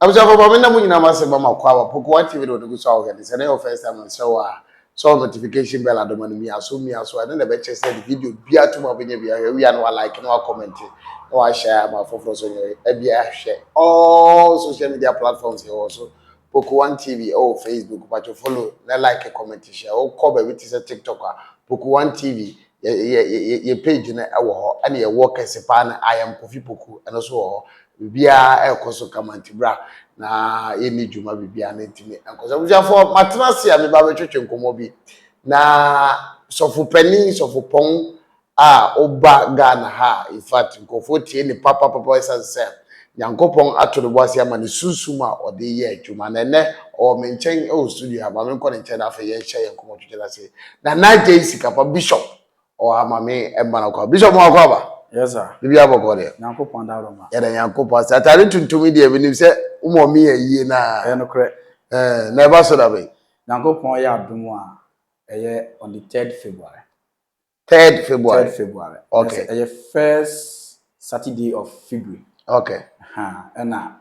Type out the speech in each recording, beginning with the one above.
abusuafo ma me na mo nyinaa ma se ma ma kwa wa pokowa tv na onugu so ahohɛ ne sɛ na yɛ first time na sɛ wa sɛ notification bell adoma no mia so mia so ɛne na ɛbɛkyɛ sɛ de video bia to ma bɛnya bia hwɛ wia na wa like na wa comment na wa share ama foforɔ so nyɛ ɛbia hwɛ all social media platforms yɛ wɔ so pokowa tv ɛwɔ facebook patwo follow na like comment share wokɔ baabi te sɛ tiktok a pokowa tv yɛ page no wɔ hɔ ɛna yɛwɔ kɛse paa no I am Kofi Poku ɛno nso wɔ hɔ biribiara ɛrekɔ so kama nti bra na yɛnni dwuma biribiara no ntumi nkɔ so abusuafoɔ matena ase a meba bɛtwetwe nkɔmmɔ bi na sɔfo panin sɔfo pɔn a woba Ghana ha in fact nkurɔfoɔ tie ne papapapa ɛsiane sɛ Nyankopɔn ato ne bo ase ama ne sunsum a ɔde yɛ adwuma na ɛnnɛ ɔwɔ me nkyɛn wɔ studio ha, ma me nkɔ ne nkyɛn na afei yɛnhyɛ yɛn nkɔmmɔ twetwe no ase. Nana Agyei Sikapa, Bishop, ɔwɔ ha ma me mma no kɔ. Bishop moakɔ aba? Yes sir. Biribiara bɔkɔɔ deɛ? Nyankopɔn dabroma. Yɛda Nyankopɔn ase. Ataade tuntum yi deɛ menim sɛ wo mom yɛ ayie no a. Ɛyɛ nokorɛ. Ɛɛ, na ɛba so da bɛn? Nyankopɔn yɛ adom a ɛyɛ on the third February. Third February. Third February. Okay. Ɛsɛ ɛyɛ first Saturday of February. Okay. Ha ɛna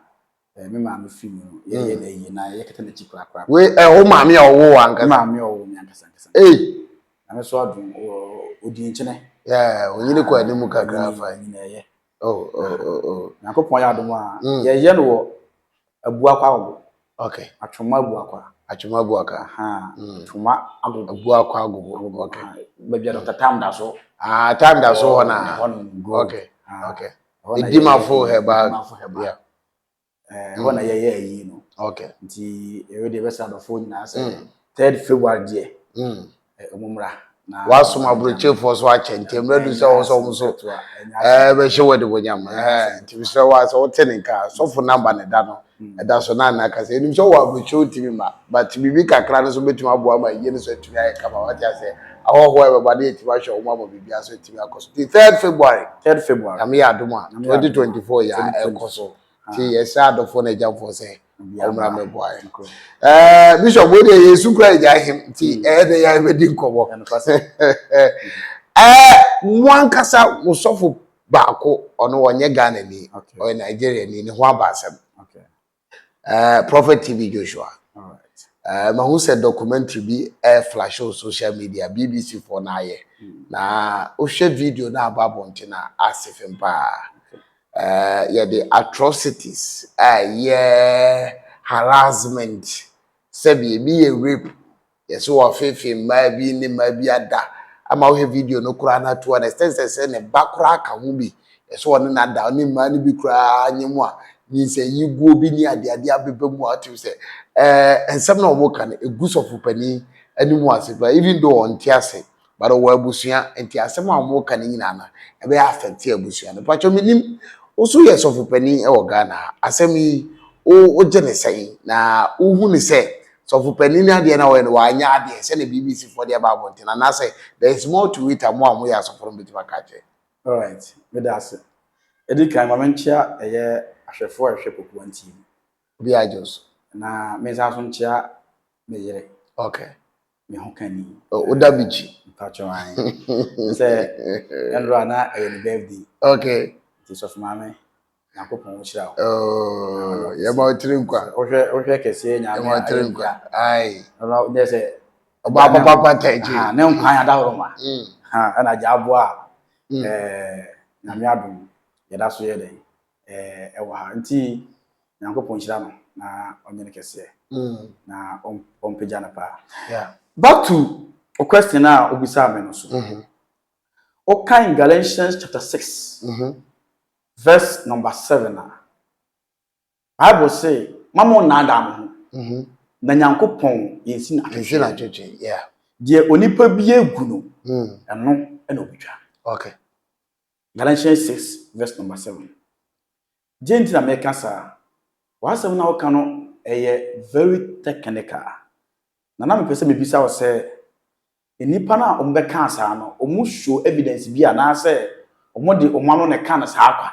ɛɛ me maame fi mu no yɛ yɛ na yie na yɛ kɛtɛ n'akyi kura kura. Wei ɛwɔ eh, maame a ɔwɔ wɔ ankasa. Maame a ɔwɔ mi ankasa ankasa. Ee. Na me so adum wɔ odi nkyene. Yɛɛ onyini kɔ anim kakra fa. Onyini ɛyɛ. Oh oh oh oh. Nyankopɔn yɛ adum a yɛ yɛ no wɔ Abuakwa agogo. Okay. Atwoma abuakwa. Atwoma abuakwa. Atwoma agogo. Abuakwa agogo. Okay. Baabi a Dr. Tam da so. Ah, Tam da so hɔ na. Okay. Okay. Edimafo herbal. Edimafo herbal. Yeah. Eh, hɔ na yɛyɛ ayi no. Okay. Nti, ɛwɛ deɛ ɛbɛsɛ adɔfoɔ nyinaa sɛ third February deɛ. ɛmu mmra. Wasom aburokyefoɔ so akyɛ nti mmerɛ du sɛ wɔn sɛ wɔn so ɛɛ bɛhyɛ wɔ adibonyam ɛɛ nti mesrɛ wa sɛ wote ne nka sɔfo namba ne da no ɛda so na nna kasa enim sɛ wɔ aburokye wotumi ma but biribi kakra no so betumi aboa ma yie no so atumi ayɛ kama wate asɛ ahɔhoɔ a ɛbɛba ne yɛtumi ahwɛ wɔn ama biribi aso atumi akɔ so ti third February third February nyame yɛ adom a twenty twenty four yɛ ɛkɔ so. nti yɛsrɛ adɔfoɔ no agyamfoɔ sɛ ɔmmra mmɛboa yɛn ɛɛ bishop wo deɛ yɛn su kura agya ahem nti hmm. ɛyɛ dɛ yɛn bɛdi nkɔmɔ ɛɛ mo ankasa mo sɔfo baako ɔno ɔnyɛ ghana ni ɔyɛ nigeria ni ne ho aba asɛm ɛɛ prophet tv joshua ɛɛ mahu sɛ documentary bi ɛɛ flash o social media bbc fo na ayɛ hmm. na wohwɛ video na aba abɔnten na ase fem paa. Eh, yɛde atrocities, ɛyɛ harassment, sɛbi ebi yɛ rape, yɛsɛ wɔfeefee mmaa bi ne mmaa bi ada, ama wohwɛ video no koraa na to an extent sɛ sɛ ne ba koraa ka ho bi, yɛsɛ wɔne no ada, ne mmaa no bi koraa nye mu a, nyinsɛnyi guo bi ne adeade abeba mu a, wotim sɛ, eh, nsɛm na wɔka no, egu sɔfopanin anim ase paa, even though ɔnte ase, but ɔwɔ abusua nti asɛm a wɔn ka no nyinaa no ɛbɛyɛ afɛte abusua no mpatsɔ mi nim woso yɛ sɔfo panyin ɛwɔ ghana ha asɛm yi wo wogye ne sɛn na wohu ne sɛ sɔfo panyin no adeɛ na wɔyɛ no wɔanyɛ adeɛ sɛ na bbc fo de ɛba abɔnten anaasɛ there is more to it a mo a mo yɛ asɔfo no betumi aka akyɛ. alright meda ase edi kan ma me nkyea ɛyɛ ahwɛfo a ɛhwɛ poku wantie mu. obi a gye wo so. na me nsa so nkyea me yere. okay. me ho ka ni. Oh, Oda Bichi. Mpacho an. Sɛ ɛnora na ɛyɛ ne birthday. Okay. Nti sɔfo maame. Nyankopɔn wo hyira wo. Oh, yɛ ma otiri nkwa. Wohwɛ wohwɛ kɛseɛ nyame. Yɛ ma otiri nkwa. Ai. Ɛnora nyɛ sɛ. Ɔba papa papa tɛgye. Ah, ne nkwa ya dahoro ma. Mm. Ha, ɛna gya aboa. Mm. Eh, nyame adom. Yɛda so yɛ dɛn. eh, ɛwɔ ha. Nti Nyankopɔn nhyira no na ɔnyɛ no kɛseɛ mm. na ɔmpagya no paa. Yeah. Back to o question a wobisaa me no so. Mm -hmm. Wokan Galatians chapter 6 mm -hmm. verse number 7 a Bible se ma mo nnaadaa mo ho mm -hmm. na Nyankopɔn yɛnsi no akɛseɛ. Deɛ onipa bi agu no mm. ɛno na ɔbɛtwa. Okay. Galatians six verse number seven. Gye nti na meka saa. W'asɛm na woka no ɛyɛ very technical. Na na mepɛ sɛ mebisa wo sɛ, nnipa no a wɔn bɛkaa saa no, wɔn show evidence bi anaasɛ wɔn de wɔn ano na ɛkaa no saa kwa?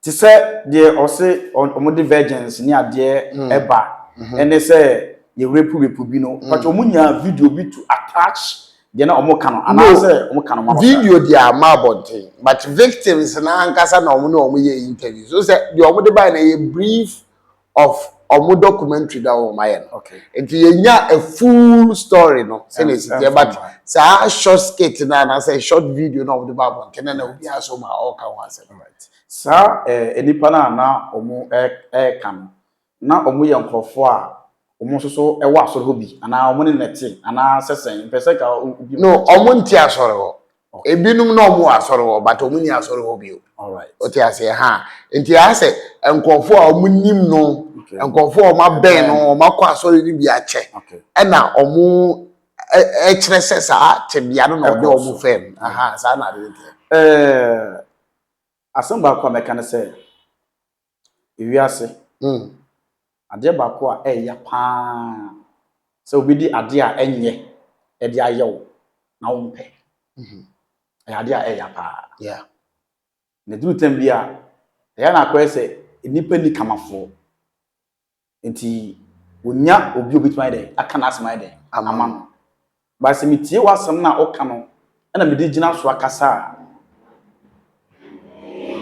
Te sɛ deɛ ɔse ɔmo de virgins ne adeɛ ɛba ɛne sɛ yɛ rape rape bi no mpakyɛ ɔmo nyaa video bi to attach deɛ na ɔmo ka no anaa sɛ ɔmo ka no ma abɔnten. Video deɛ amma abɔnten but victims no ankasa na ɔmo ne ɔmo yɛɛ interviews wohu sɛ deɛ ɔmo de baeɛ no ɛyɛ brief of ɔmo documentary na ɔmo ayɛ no nti yɛnya a full story no sɛnea esi teɛ but saa short skit no anaasɛ short video na ɔmo de ba abɔnten na na obi aso ma ɔka ho asɛm. Saa eh, nnipa no a na ɔmo ɛka no, na ɔmo yɛ nkorɔfoɔ a ɔmo nso so ɛwɔ asɔre hɔ bi anaa ɔmo ne no te anaa sɛ sɛn? Mpɛ sɛ ka obi. No, ɔmo nte asɔre hɔ. ebinom na wɔn wɔ asɔre hɔ but wɔn ni asɔre hɔ bio ɔte aseɛ ha nti ayɛ sɛ nkurɔfoɔ a wɔn nim no nkurɔfoɔ a wɔn abɛn no wɔn akɔ asɔre no bi akyɛ ɛna wɔn ɛkyerɛ sɛ saa tebea no na ɔde wɔn fɛm aha saa na ade nteɛ. asɛm baako a mɛka ne sɛ Ewiase, adeɛ baako a ɛya pa ara sɛ obi de adeɛ a ɛnyɛ de ayɛ wo na wompɛ. Ɛyɛ adeɛ a ɛya pa ara. Na ɛduru tɛm bi a, ɛyɛ na akɔyɛ sɛ nnipa nni kamafoɔ. Nti wonya obi a obetumi ayɛ dɛn? Aka n'asɛm ayɛ dɛn? Ama no. But sɛ metie w'asɛm no a woka no na mede gyina so akasa a,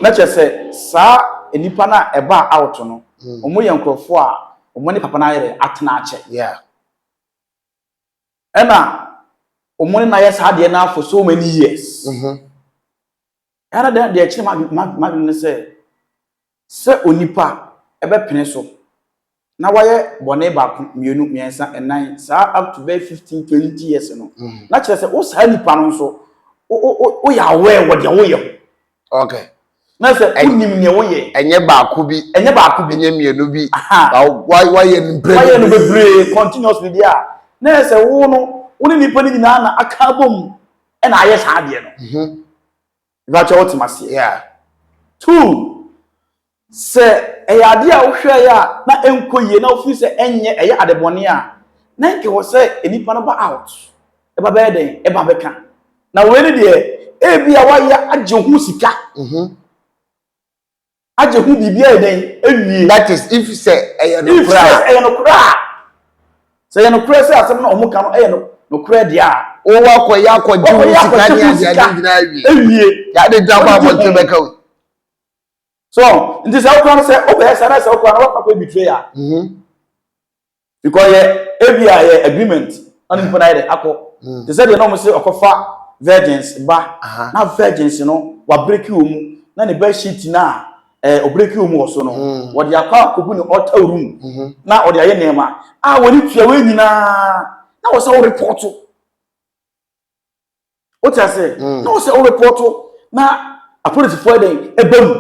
na kyerɛ sɛ saa nnipa no a ɛbaa out no, wɔyɛ nkurɔfoɔ a wɔne papa no ayɛ dɛn? Atena akyɛ. Yeah. Ɛna wɔne no ayɛ saa adeɛ no ara for so many years. Ɛha na deɛ ɛkyere m'adwene ne sɛ, sɛ onipa bɛpene so na wayɛ bɔne baako, mmienu, mmiɛnsa, nnan, saa up to bɛyɛ fifteen, twenty years no, na kyerɛ sɛ wo saa nipa no nso, woyɛ aware wɔ deɛ woyɛ ho. Okay. Na sɛ wonim deɛ woyɛ. Ɛnyɛ baako bi. Ɛnyɛ baako bi. Ɛnyɛ mmienu bi. Wayɛ no bebree. Wayɛ no bebree continuously deɛ a, na yɛ sɛ wo no, wo ne nipa no nyinaa na aka abom. ɛna ayɛ saa adeɛ no ɛbɛkyɛ wote maseɛ two sɛ ɛyɛ adeɛ a wohwɛɛ a na ɛnkɔ yie na wofiri sɛ ɛnyɛ ɛyɛ adebɔne a na ɛnka wɔ sɛ nnipa no ba out ɛba bɛyɛ dɛn ɛba bɛka na wei ne deɛ ebi a wayɛ agye ho sika mhm. Agye ho biribi ayɛ dɛn awie? That is, if sɛ ɛyɛ If nokorɛ sɛ a. ɛyɛ nokorɛ a. Sɛ ɛyɛ nokorɛ sɛ asɛm no a wɔka no yɛ no nokorɛ deɛ a. Wo woakɔyɛ akɔgye wo Woakɔyɛ sika akɔgye ne ho adeade sika nyinaa awie. awie. Yɛ adwene sɛ abɔ Wogye abɔnten ho. bɛka wei. So, nti sɛ wokora no sɛ wobɛyɛ saa na sɛ wokora no woakɔ akɔyɛ betray a, Because yɛ ebi a yɛ agreement na ne nipa na yɛ de akɔ. Mm. Te sɛ deɛ na wɔn sɛ ɔkɔfa virgins ba Aha. na virgins no wabreki wɔn mu na ne bed sheet na ɛɛ eh, ɔbreki wɔn mu wɔ so no Mm. wɔde akɔ akɔgu ne altar room Mhm. na ɔde ayɛ nneɛma a wɔde tua wɔn nyinaa na wɔsɛ wɔrepɔto. o ti ase mm. na o sɛ o repɔto na apolisifoɔ yɛ dɛn ɛbɛ mu.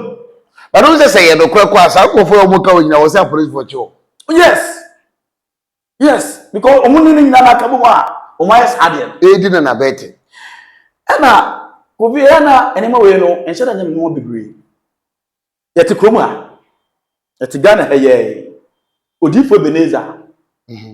bàtà o sɛ sɛ yɛ nokorɛ kɔ a saa nkorɔfoɔ yɛ wɔn ka wɔn nyinaa wɔ sɛ apolisifoɔ kyɛ o. yes yes because wɔn ni ne nyinaa na aka mu a wɔn ayɛ saa deɛ. eedi na na bɛɛ te. ɛna kofi ɛyɛ na nneɛma wei no nhyɛ da nyɛ mu nneɛma bebree yɛte kurom ha yɛte ghana ha yɛɛ odiifo ebeneza. Mm-hmm.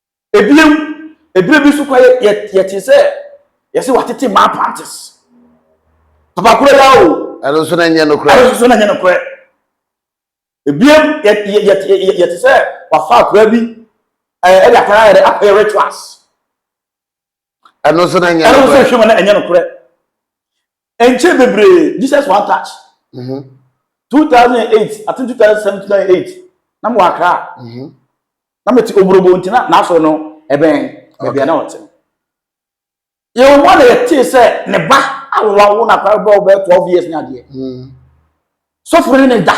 Ebien, ebire bi so kwa yɛ yɛ yɛte sɛ yɛsɛ watete mmaa pantes. Papa koro ya o. Ɛno nso na nyɛ nokorɛ. Ɛno nso na nyɛ nokorɛ. Ebien yɛ yɛ yɛ yɛ yɛte sɛ wafa akora bi ɛɛ ɛde akora ayɛ dɛ akɔyɛ rituals. ɛno nso na ɛnyɛ ɛno nso nokorɛ. hwɛ ma na ɛnyɛ nokorɛ ɛnkyɛ bebree jesus one touch Mhm, 2008 i think 2007 2008 na mewɔ akra mhm. na mete obrobo nti na n'asɔre no ɛbɛn baabi a Okay. na ɔte no yɛwɔ mu a na yɛtee sɛ ne ba awowa wo no akora bɛbɛ wo bɛyɛ 12 years ne adeɛ Mm. sɔfo no ne da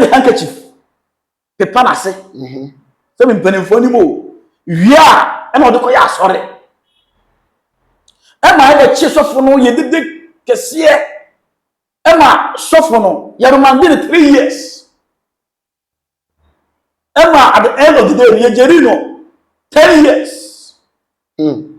de handkerchief pepa n'ase mhm. sɛbi mpanimfoɔ anim o wie a ɛna ɔde kɔyɛ asɔre ɛma yɛbɛkye sɔfo no yɛ dede kɛseɛ ɛma sɔfo no yɛremande no three years ɛma at the end of the day yɛgyeri no ten years hmm.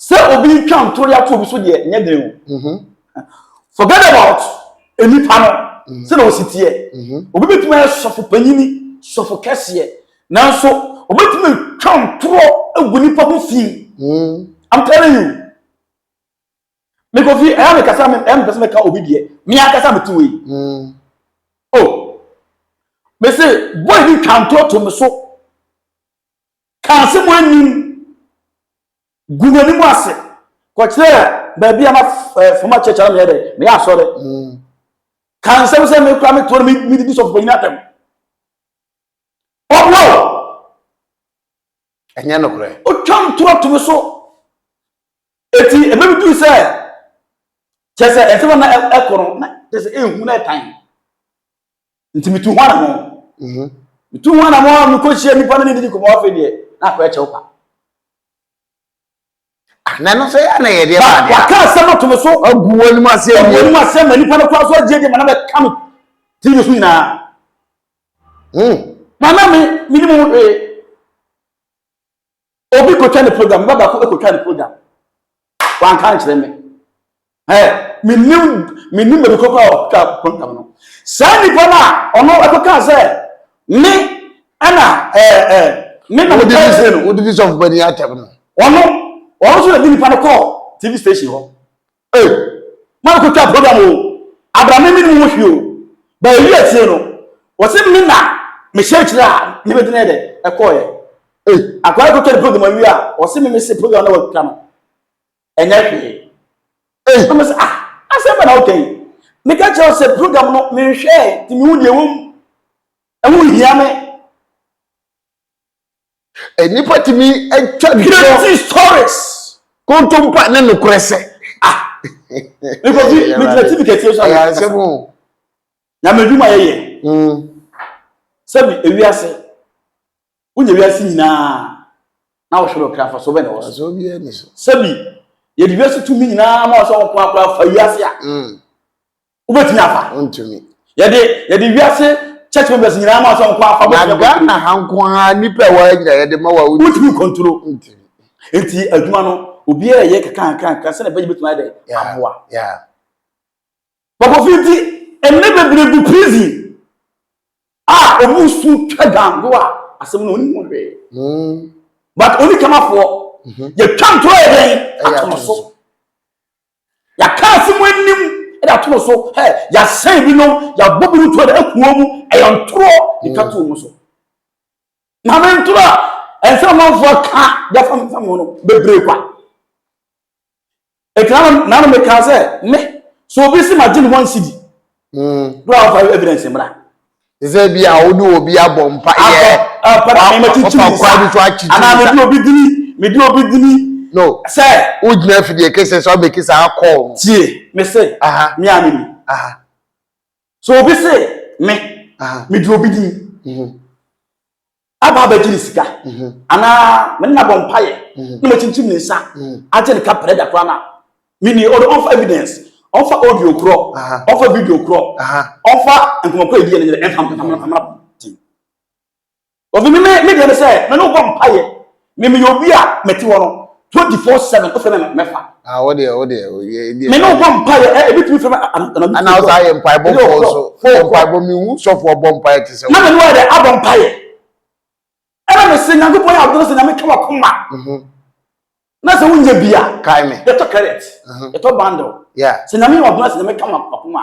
Sɛ obi retwa ntore ato obi so deɛ nyɛ den o. Mhm. Forget about nnipa no mhm. sɛ na osi teɛ. Mhm. Obi betumi ayɛ sɔfo panyini, sɔfo kɛseɛ, nanso obetumi atwa ntorɔ agu nipa ho fi. I'm telling you. Mekɔ fi ɛyà mi kasa mi ɛyà mi pɛsɛ mi ka obi deɛ mi akasa mi ti wei. O, mese boy bi twa ntorɔ to mi so. Ka asɛm a ennim. Gu n'anim ase. Kɔkyerɛ baabi a na eh, fama kyɛkyɛ na meyɛ dɛ, meyɛ asɔre. Mm. Ka nsɛm sɛ me kora me toɔ no medidi sɔfo panyin atɛm. Ɔbrɛ o. Ɛnyɛ nokorɛ. Otwa ntorɔ to me so. Eti ebe bi duru sɛ kyɛ sɛ ɛsɛ na ɛkɔ no na kyɛ sɛ ehu na ɛtan. nti metu ho anamɔ mhm. metu ho anamɔ a mekɔhyia nnipa no ne didi kɔmɔ afei deɛ na akɔ ɛkyɛw pa ah, na ɛno sɛ yɛ na yɛdeɛ baadeɛ waka asɛm ato me so agu wɔ anim ase agu anim ase ma nnipa no kora so agye deɛ ma na bɛka me tv so nyinaa hmm. na na me menim ho hwee Obi kɔtwa ne program, ne ba baako kɔtwa ne program. Wanka nkyerɛ me. Ɛɛ, menim menim baabi kɔkɔ a ɔtwa program no. Saa nipa no a ɔno ɛkɔka sɛ me ɛna ɛɛ ɛɛ me na meka nkyerɛ no. Wodi bi sɔfo bani atɛm no. Ɔno ɔno nso na di nipa no kɔɔ TV station hɔ. Ei ma me kɔ twa program oo abra me menim ho hwee oo ba ɛyi atie no wɔse me na me hyɛ akyire a ne bɛgyina yɛ dɛ ɛkɔɔ yɛ ei akwa no kɔ twa ne program awie a wɔse me me se program na wɔtwa no ɛnyɛ hwee ei na me se ah asɛm bɛ na woka yi me ka kyerɛ sɛ program no menhwɛɛ ti me hu deɛ wɔm ɛho hia me Nnipa tumi atwa no. Crazy stories. Kontompa ne nokorɛ sɛ. Ah. Nnipa bi ne gyina TV kɛseɛ so ayɛ asɛm. Nyame adwuma yɛyɛ. Hmm. Sɛbi ewiase. Wonya wiase nyinaa na wɔhwere ɔkra fa so bɛ na wɔ so. Sɛbi yɛde wiase tumi nyinaa ma ɔsɛ wɔn korakora fa wiase a. Hmm. wobɛtumi afa wontumi yɛde yɛde wiase church members nyinaa ma sɛ nkɔ afa na ghana ha nko ara nnipa a wɔanya yɛde ma wa wontumi kɔntoro nti adwuma no obiara yɛ kakrankranka sɛdeɛ bɛgye bɛtumi ayɛ dɛ aboa bɔbɔfi nti ɛnɛ bebree gu prison a ɔmu su twa gango a asɛm no ɔnim hwee hmm. but ɔni kamafoɔ mhm. yɛtwa ntorɔ yɛ dɛn ato no so Yɛaka asɛm anim de ato no so, hɛ, yɛasɛe binom, yɛabɔ binom to da akuo mu, ɛyɛ ntorɔ de twa to wɔn so. Maame ntorɔ a ɛnsɛ amanfoɔ ka de afa mfa mu no bebree kwa. Ɛti na na meka sɛ me sɛ obi si magye ne ho ansidi Mm. Do a wɔfa evidence mmra. Ɛsɛ bi a wode obi abɔ mpa yɛ. Abɔ na mɛma kyinkyin nsa. Ɔkwa bi so akyinkyin nsa. Anaa mede obi dini mede obi dini. No. Sɛ. Wogyina afidie kese sɛ ɔbɛki saa kɔɔ. Tie me se. Me a meni. So obi se me. Mede obi dini. Mm-hmm. aba abɛgye ne sika anaa me ne no abɔ mpaeɛ na makyinkyim ne nsa agye ne kaprɛ da koraa no a meni ɔde ɔmfa evidence ɔmfa audio korɔ ɔmfa video korɔ ɔmfa nkɔmmɔkɔ ɛdiɛ no nyerɛ ɛmfa mmra ɔfi me me deɛ no sɛ me ne wobɔ mpaeɛ Me meyɛ obi a mete hɔ no twenty four seven o fɛ mɛ mɛ fa. Ah o deɛ o deɛ o yɛ ebi. Me no bɔ mpa yɛ ɛ ebi tumi fɛ mɛ anadu. Ɛna o saa yɛ mpa yɛ bɔ mpa yɛ so yɛ mpa yɛ bɔ mi hu sɔfo ɔbɔ mpa yɛ ti sɛ. Na mi ni wa yɛ dɛ abɔ mpa yɛ. Ɛna mi se nyanko pɔ yɛ awo dɔrɔn se nyame kɛ wa kuma. Mhm. Na se wo nye bia. Kae me. Yɛ tɔ credit. Mhm. Yɛ tɔ bundle. Yeah. Se nyame yɛ wa dɔrɔn se nyame kɛ wa kuma.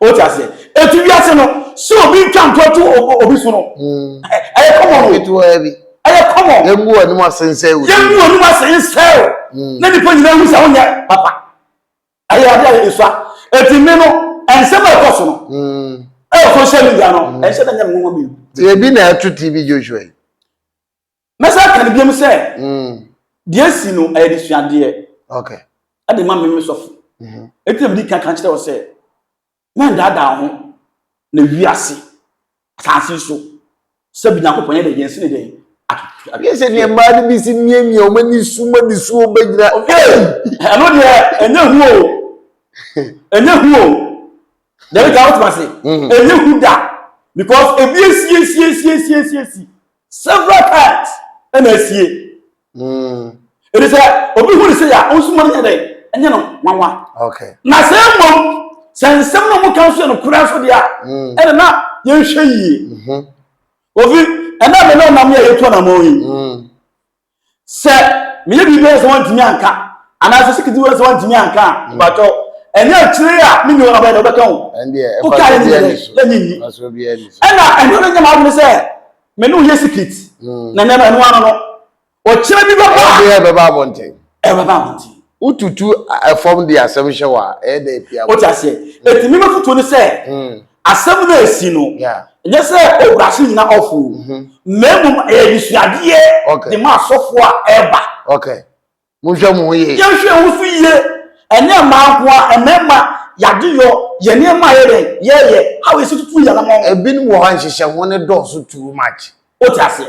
o ti aseɛ etu wiase no sɛ obi ntwa ntɔ to obi so no ɛyɛ kɔmɔ no ɛyɛ kɔmɔ yɛn mu wɔn mu ase nsɛ o yɛn mu wɔn mu ase nsɛ o na nipa nyinaa hu sɛ wɔn nyɛ papa ɛyɛ adi ayɛ esua eti mi no nsɛm a ɛkɔ so no ɛyɛ social media no ɛnhyɛ dɛ nyɛ mu wɔn mi. ebi na ɛto tv joshua yi. Mɛsan aka no biom sɛ, mm. deɛ asi no ɛyɛ de suadeɛ okay. ɛde ma mmemme sɔfo. Mm-hmm. Eti na mede kan kan kyerɛ wɔ sɛ, mɛndaadaa ho na wiase asase so sɛ bi Nyankopɔn yɛ dɛ yɛn sene dɛn yɛ sɛ deɛ mmaa no bi si miamia ɔma ne su ma ne su ɔbɛgyina ɛno deɛ ɛnyɛ hu o ɛnyɛ hu o dɛbi ka wotoma se ɛnyɛ hu da because ebi esiesie esiesie esiesie several times ɛna asie ɛdi sɛ obi hu ne sɛ yɛ a ɔnsuma no nyɛ dɛ ɛnyɛ no nwanwa na sɛ mmom sɛ nsɛm no mu ka nso yɛ no kura nso deɛ a ɛna na yɛnhwɛ yie ofi ɛna mene ɔnam yɛ yɛtu anamɔ yi Sɛ meyɛ biribi a sɛ wɔntumi anka anaasɛ sikiti wɔ sɛ wɔntumi anka a hmm. mpakyɛ ɛnyɛ akyire a me nyɛ ɔbɛyɛ dɛ ɔbɛka ho woka yɛ nyɛ dɛ ne nyi ɛna ɛno no nyɛ m'adwene sɛ me ne woyɛ sikit hmm. na nneɛma ɛno ano no ɔkyerɛ bi bɛba ɛbɛba abɔnten ɛbɛba abɔnten Wotutu fam de asɛm hyɛ wɔ a, ɛyɛ dɛ pia. Wote aseɛ? Eti mi mafutuo ne sɛ, asɛm no a esi no, nyɛ sɛ o brase nyina off o, na mmom ɛyɛ adesuadeɛ de ma asɔfoɔ a ɛreba. Okay. Monhwɛ mo ho yie. Yɛnhwɛ yɛn ho so yie. Ɛnyɛ mmaa nko ara, mmarima, yɛn adeyɔ, yɛn nneɛma a yɛyɛ dɛn, yɛyɛ, how yɛsi tutu yɛn anammɔn. Ebinom wɔ hɔ a, nhyehyɛho no dɔɔso too much. Wote aseɛ?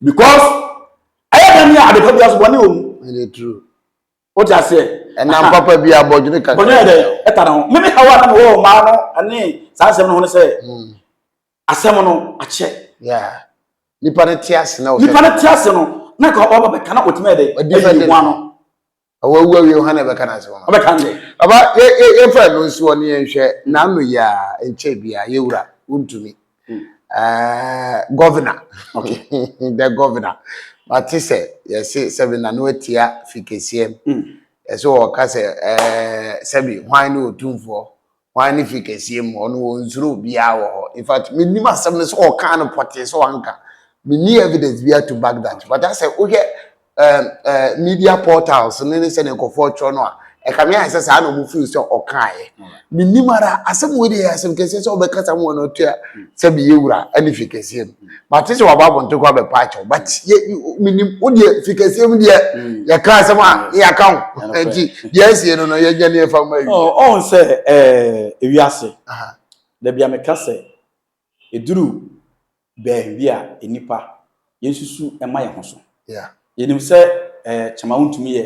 because ɛyɛ dɛ ne adepa bi aso bɔne wɔ mu ɛyɛ true wote aseɛ ɛnam papa bi abɔdwene kakra bɔne yɛ dɛ ɛta ne ho mene hawa na mewɔ ɔmaa no ɛne saa nsɛm no ho no sɛ hmm. asɛm no akyɛ nipa no te ase na nipa no te ase no na ka ɔba bɛka na ɔtumi ɛdɛ ɛyi ho ano ɔwɔ awu awie hɔ na ɛbɛka n'asɛm ama ɔbɛka nde aba yɛmfa ɛno nsi hɔ ne yɛnhwɛ n'ano yɛ a nkyɛ bia yɛwura wontumi hmm. eh, governor okay. the governor mate sɛ yɛse sɛbi na no atia fi kɛseɛm hmm. ɛsɛ ɔka sɛ eh, sɛbi hwan ne ɔtumfoɔ Hwan ne fi kɛseɛ mu? Ɔno ɔnsuro obiara wɔ hɔ. In fact, mennim asɛm no sɛ ɔkaa no pɔtee sɛ wanka. Menni evidence biara to back that. But asɛ wohwɛ um, uh, media portals ne ne sɛdeɛ nkurɔfoɔ twerɛ no a, ɛka me ayɛ sɛ saa na ɔmo feel sɛ ɔkaeɛ. Mennim ara, asɛm wei deɛ yɛ asɛm kɛseɛ sɛ ɔbɛkasa mu ɔno ɔtua sɛ meyɛ wura ne fi kɛseɛ mu. mate sɛ waba abɔnten kɔ abɛpa akyɛw but yɛ menim wo deɛ fi kɛseɛ mu deɛ mm. yɛka asɛm a mm. yɛaka wo nti deɛ asie no no yɛnya ne ɛfa ma awie ɔhu sɛ ewiase da bia meka sɛ ɛduru baabi a nnipa yɛnsusu ɛma yɛ ho so yɛnim sɛ kyɛma wontumi yɛ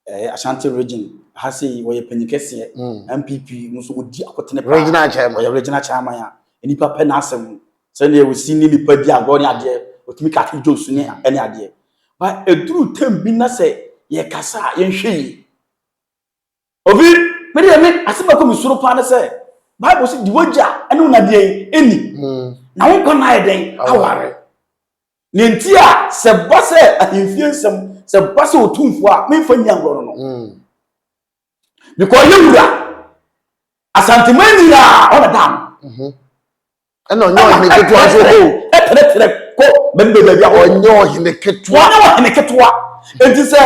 Ɛyɛ Ashanti region ha sei wɔyɛ panyin kɛseɛ NPP no so wɔdi akotene paa regional chairman wɔyɛ regional chairman a nnipa pɛ n'asɛm sɛdeɛ wɔsi ne nipa di agorɔ ne adeɛ wɔtumi ka ake jokes ne ɛne adeɛ ba ɛduru tam bi na sɛ yɛkasa a yɛnhwɛ yi obi me deɛ me asɛm ɛkɔ me soro paa ne sɛ bible sɛ di wagya ɛne wo nadeɛ ɛni na wo nkwa na ayɛ dɛn aware Nea enti a sɛ ɛba sɛ ahemfie nsɛm, sɛ ɛba sɛ otumfoɔ a, memfa nni agorɔ no no. Mm. Because ɔyɛ wura. Asanteman nyinaa ɔna daa no. Mhm. Ɛna ɔnyɛ ɔhene ketewa nso o. Ɛtrɛtrɛ kɔ baabi baabi baabi ahorow. Ɔnyɛ ɔhene ketewa. Ɔnyɛ ɔhene ketewa. Enti sɛ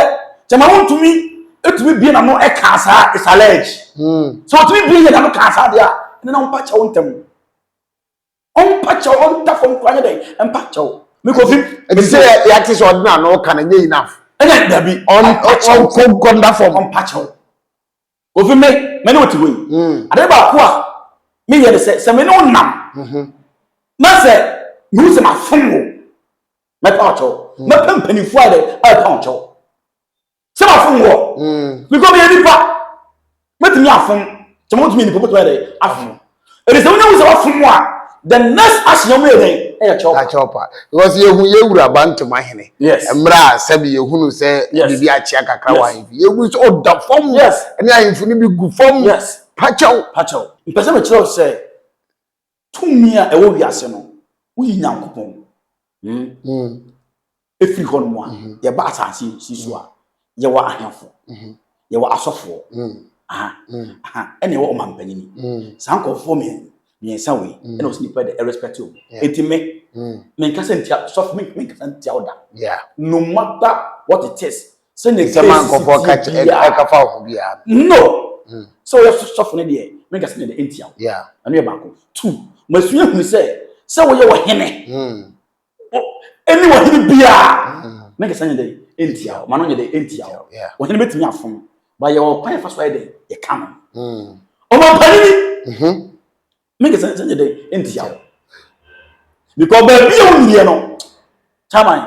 kyɛma wontumi etumi bie n'ano ɛkaa saa is alleged. Mm. Sɛ otumi bie yɛ n'ano kaa saa deɛ a, ɛnna na wɔpa kyɛw ntɛm. ɔmpa kyɛw ɔnda fam kora nyɛ dɛn ɛmpa kyɛw mikofi ɛti sɛ yɛate sɛ ɔde na no kan nyɛ enough ɛna dabi ɔnkɔ nkɔ nda fam ɔmpa kyɛw ofi me me ne wote hɔ yi hmm. ade baako a meyɛ ne sɛ sɛ me ne wo nam mhm. na sɛ mehu sɛ mafom wo mɛpa wo kyɛw hmm. mɛpɛ mpanimfoɔ a dɛ a ɛpa wo kyɛw sɛ mafom wɔ because meyɛ nipa mɛtumi afom sɛ motumi yɛ nipa motumi yɛ dɛ afom ɛde sɛ wonya wu sɛ wafom a the next action ɔmo yɛ dɛn ɛyɛ kyɛwpa kyɛwpa because yɛhu yɛwura bantoma hene mmerɛ a sɛbi yɛhunu sɛ biribi akyea kakra wɔ ahemfi yɛhu sɛ ɔda fam ɛne ahemfo no bi gu fam pakyɛw pakyɛw mpɛ sɛ mekyerɛ sɛ Tumi a ɛwɔ wiase no, woyi Nyankopɔn ɛfiri hmm. hɔ nom a, hmm. yɛba asase si so a, hmm. yɛwɔ ahemfo, yɛwɔ asɔfoɔ, ɛna ɛwɔ ɔmampanyini. Saa nkɔfoɔ mmiɛnsa wei, ɛna ɔsi nipa de ɛrespɛte o. Eti me, menkasa ntia sɔfo, menkasa ntia ɔda. No matter what it is, sɛnea ɛsi biara. sɛ mankɔfoɔ ka ɛka fa ɔfo biara. no hmm. sɛ woyɛ sɔfo no deɛ menka sɛ nɛdɛ ɛntia wo ɛno yɛ baako two masua hunu sɛ sɛ woyɛ ɔhene hmm. ɛne ɔhene biara hmm. menka sɛ nyɛ dɛ ɛntia wo ma no nyɛ dɛ ɛntia wo ɔhene bɛtumi afom ba yɛwɔ kwan yɛfa so ayɛ dɛ yɛka no ɔmapanini mm-hmm. Me kasa nkyɛn yɛ dɛ ntia wo. Because baabi a wonyiniɛ no, chairman,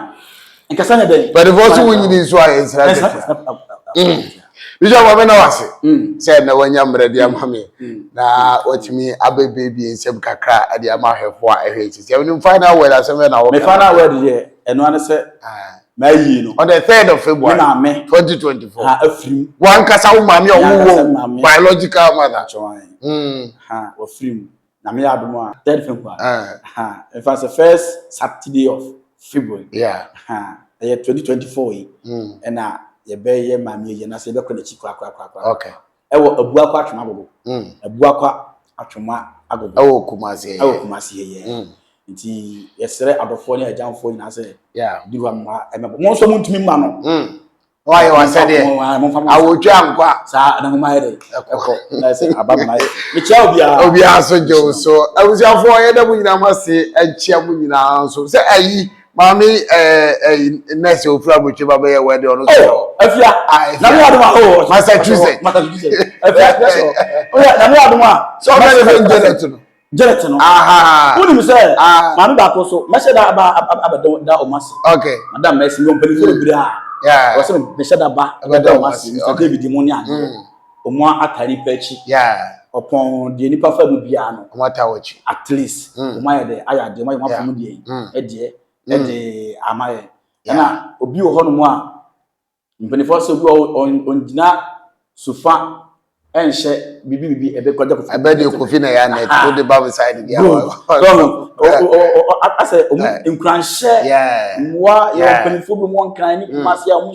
nkasa nyɛ dɛ. Bɛdefo so wonyini nso a nsira kɛkɛ. Bishop Ame na wase mm. sɛ na wanya mmerɛ de ama me mm. na watumi abɛbiebie nsɛm kakra de ama ahwɛfoɔ a ɛhwɛ sisi ɛno final word asɛm na wɔka me final word yɛ ɛno ane sɛ ah. M'ayi no. On the third of February. Ne maame. Twenty twenty four. Ha afirim. Wankasa wo maame a ɔwɔ wɔn biological mother. Atwɛn. Hmm. Ha wɔfirim. Na me yɛ adum a third February. Eh. Ha efa sɛ first Saturday of February. Yeah. Ha ɛyɛ twenty twenty four yi. Hmm. Ɛna yɛbɛyɛ maame ayi na sɛ yɛbɛkɔ n'akyi korakorakorakora. Okay. ɛwɔ abuakɔ atwoma agogo mm. abuakɔ atwoma agogo ɛwɔ kumase yɛ ɛwɔ kumase yɛ yɛ mm. nti yɛsrɛ adɔfoɔ ne agyanfoɔ nyinaa sɛ duru ama ɛmɛbɔ mo nso mo ntumi mma no mm. wayɛ wasɛdeɛ awotwa nkɔ a saa anahoma yɛ dɛ ɛkɔ ɛsɛ aba mma yɛ mekyia obiara obiara so gye wo so abusuafoɔ yɛda mo nyinaa mo ase nkyia mo nyinaa nso sɛ ayi Maame ɛyi nurse ofiri abotwe ba bɛyɛ wɛdi ɔno sɛ ɔ. Afia nyame adum a ɔwɔ Massachusetts. Massachusetts afia afia sɛ ɔ ɔyɛ nyame adum a. Sɛ ɔbɛ de fɛn Janet no. Janet no. Wúni mi sɛ maame baako so mɛhyɛ da aba abɛ da ɔmo ase. Ok. Madam mɛsi mi ɔmpɛni fún ebiri a. Ɔsɛ mi mɛhyɛ da ba abɛ da ɔmo ase Mr David mu ni adi. ɔmo ata nipa akyi. ɔpɔn deɛ nipa fa mu biara no. ɔmo ata wɔ akyi. at least hmm. ɔmo ayɛ dɛ ayɛ adeɛ ɔmo ayɛ ɔmo afɔ mu deɛ hmm. ɛdeɛ hmm. ɛde ama yɛ ɛna obi wɔ hɔ nom a mpanyinfoɔ sɛ obi wɔ ɔngyina sofa ɛnhyɛ bibi bibi ɛbɛ kɔjá kofi. ɛbɛ de kofi na ya nɛt o de ba mi sa ɛdi bi awa. dɔnku asɛ ɔmo nkuranhyɛ mmoa yɛ mpanyinfoɔ bi mu ɔnkran ne kumasi a ɔmo.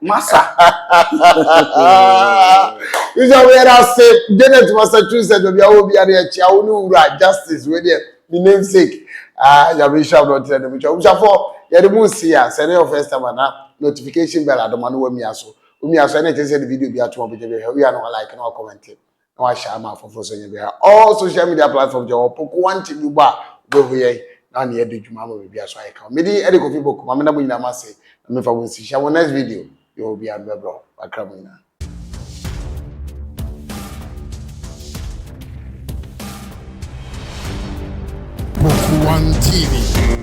masa sɛ woyɛ no ase janet massachusetts baabi a wɔ bia ne ɛkyea wo ne wura justice wei deɛ ne namesake nyame nhyira m na ɔtena ne mu kyɛ wobusafoɔ yɛde mu nsi a sɛ ne yɛ first time ana notification bell adoma no wamia so womia so ɛne ɛkyɛ sɛ de video bi atom ɔbɛgya bi hwɛ wia no like na wakɔmɛnte na wahyɛ ama afoforo sɛ nyɛ biara all social media platform jɛ wɔpo ko one thing bi bɔ a wobɛhu yɛn na ɔne yɛde dwuma ama baabi a so ayɛ ka medi ɛde kofi boko ma mena mo nyinaa ma se na mefa mo nsi hyɛ mo next video bi wɔ bi a bɛbrɛ wakra mo nyinaa Boku One TV.